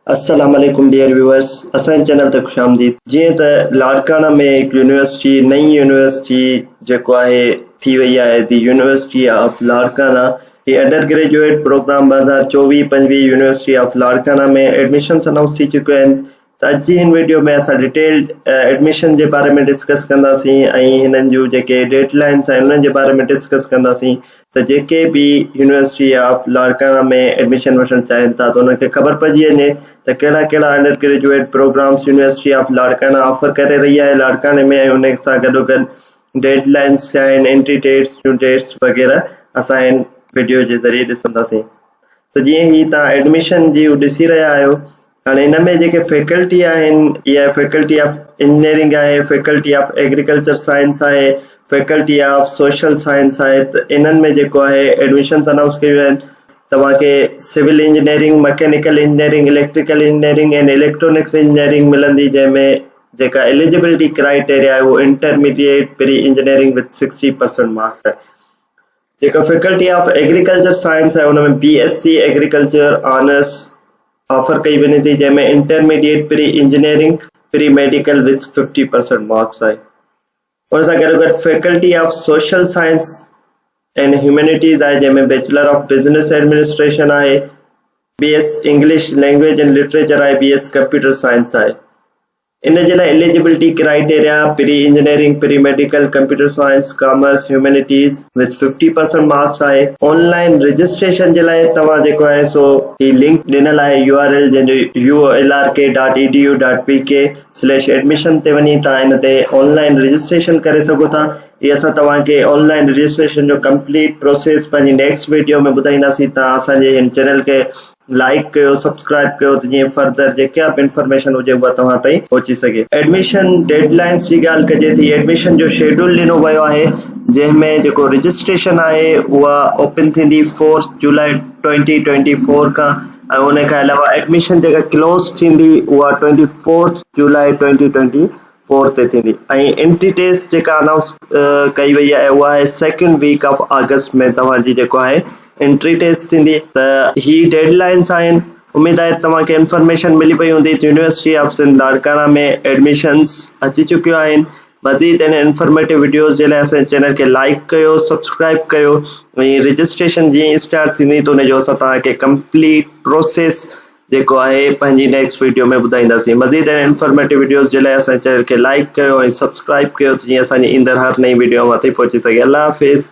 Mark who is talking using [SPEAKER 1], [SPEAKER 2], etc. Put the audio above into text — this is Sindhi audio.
[SPEAKER 1] السلام عليڪم ڊيئر ويوئرس اسان جي چينل تي خوش آمديد جيئن ته لاڙڪاڻا ۾ هڪ يونيورسٽي نئين يونيورسٽي جيڪو آهي ٿي وئي آهي دي يونيورسٽي آف لاڙڪاڻا هي انڊر گريجوئيٽ پروگرام ٻه هزار چوويهه پنجويهه university of Larkana ۾ admissions announce ٿي چڪيون آهن ته اچي هن ويڊيو ۾ اسان ڊيٽيلڊ ايڊميشن جي باري ۾ ڊسڪس ڪنداسين ۽ هنن جون جيڪي ڊيڊ لائنس آهن انهن جي باري ۾ ڊسڪس ڪنداسين ته جيڪي به يونيورسٽي آف لاڙڪاڻا ۾ ايڊميشن وٺڻ چاهين ٿا ته انهن کي خبر پئجي وڃي ته ڪهڙا ڪهڙا undergraduate programs university of Larkana offer ڪري رهي آهي لاڙڪاڻي ۾ ۽ ان سان گڏوگڏ ڊيڊ لائنس ڇا آهن انٽري ڊيٽس جون ڊيٽس وغيره اسان هن ويڊيو جي ذريعي ڏسنداسين ته جيئن هي تان ايڊميشن جي ڏسي رهيا آهيو هاڻي ان ۾ جيڪي فيڪلٽي آهن اها فيڪلٽي آف انجنيئرنگ آهي فيڪلٽي آف ايگريڪلچر سائنس آهي فيڪلٽي آف سوشل سائنس آهي ته انهن ۾ جيڪو آهي ايڊمشنس انائونس ڪيون آهن توهانکي civil engineering mechanical engineering electrical engineering ۽ electronics engineering ملندي جنهن ۾ جيڪا ايليجبلٽي ڪرائيٽيريا آهي اهو intermediate pre engineering with sixty percent marks آهي جيڪا فيڪلٽي آف ايگريڪلچر سائنس آهي ان ۾ B S C agriculture honours offer ڪئي وڃي ٿي جنهن ۾ intermediate pre engineering pre medical with fifty percent marks آهي ان سان گڏو گڏ faculty of social science and humanities آهي جنهن ۾ بيچلر آف بزنس ايڊمنسٽريشن آهي B S English language and literature آهي بي ايس ڪمپيوٽر سائنس آهي ان جي لاء eligibility criteria, pre engineering, pre medical, computer science, commerce, humanities with fifty percent marks آهي. آن لائين رجسٽريشن جي لاء توهان جيڪو آهي سو هي لنڪ ڏنل آهي يو آر ايل جنهن جو uolrk dot E D U dot P K slash admission تي وڃي توهان ان تي آن لائين رجسٽريشن ڪري سگهو ٿا هي اسان توهان کي آن لائين رجسٽريشن جو ڪمپليٽ پروسيس پنهنجي نيڪسٽ ويڊيو ۾ ٻڌائينداسين توهان اسان جي هن چينل کي لائيڪ ڪيو سبسڪرائيب ڪيو ته جيئن فردر جيڪا به انفارميشن هجي اها توهان تائين پهچي سگهي. ايڊميشن ڊيڊ لائنس جي ڳالهه ڪجي ٿي ايڊميشن جو شيڊول ڏنو ويو آهي جنهن ۾ جيڪو رجسٽريشن آهي اها اوپن ٿيندي fourth July twenty twenty four کان ۽ ان کان علاوه ايڊميشن جيڪا ڪلوز ٿيندي اها twenty fourth July twenty twenty four تي ٿيندي ۽ انٽي ٽيسٽ جيڪا اناؤنس ڪئي وئي آهي اها آهي سيڪنڊ ويڪ آف آگسٽ ۾ توهان جي جيڪو آهي انٽري ٽيسٽ ٿيندي ته هي ڊيڊ لائنس آهن اميد آهي توهان کي انفارميشن ملي پئي هوندي ته university of Sindh Larkana ۾ admissions اچي چڪيون آهن مزيد ان انفارميٽو ويڊيوز جي لاء اسان چينل کي لائڪ ڪيو سبسڪرائب ڪيو ۽ رجسٽريشن جي اسٽارٽ ٿيندي ته ان جو اسان توهان کي ڪمپليٽ پروسيس جيڪو آهي پنهنجي نيڪسٽ ويڊيو ۾ ٻڌائينداسين مزيد اهڙين انفارميٽو ويڊيوز جي لاء اسان جي چينل کي لائيڪ ڪيو ۽ سبسڪرائيب ڪيو ته جيئن اسان جي ايندڙ هر نئين ويڊيو اوهان تائين پهچي سگهي الله حافظ.